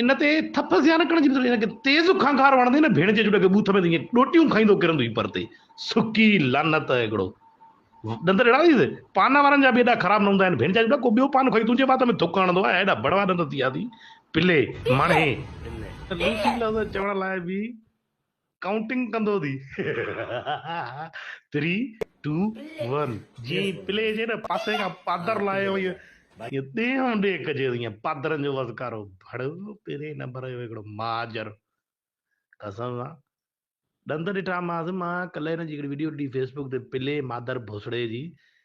ان تي ٿڦ زيان ڪڻ جي هن کي تيز کانکار وڻندي نه ڀيڻ جي جڏ کي ٻوٿ ۾ ته ائين ڏوٽيون کائيندو ڪرندو هي پرتي سڪي لعنت هڪڙو ڏند ڏيڻا ٿي پان وارن جا به ايڏا خراب نه هوندا آهن ڀيڻ جا جڏ ڪو ٻيو پان کائي تنهنجي وات ۾ ٿڪ هڻندو آهي ايڏا بڙوا ڏند ٿي ويا اٿي پلي مڻهي لوسي لفظ چوڻ لاء به ڪائونٽنگ ڪندو ٿي ٿري ٽو ون جي پلي جي نه پاسي کان پادر لاهي هو ائين ڏيهون ڏيهه ڪجي ٿو ائين پادرن جو وزڪارو ڀڙوو پهرين نمبر جو هڪڙو مهاجر قسم سان ڏند ڏٺا ماس مان ڪلهه هن جي هڪڙي ويڊيو ڏٺي فيسبوڪ تي پلي مادر ڀوسڙي جي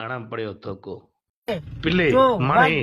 اڻ پڙهيو ٿوڪو پلي ماڻهي.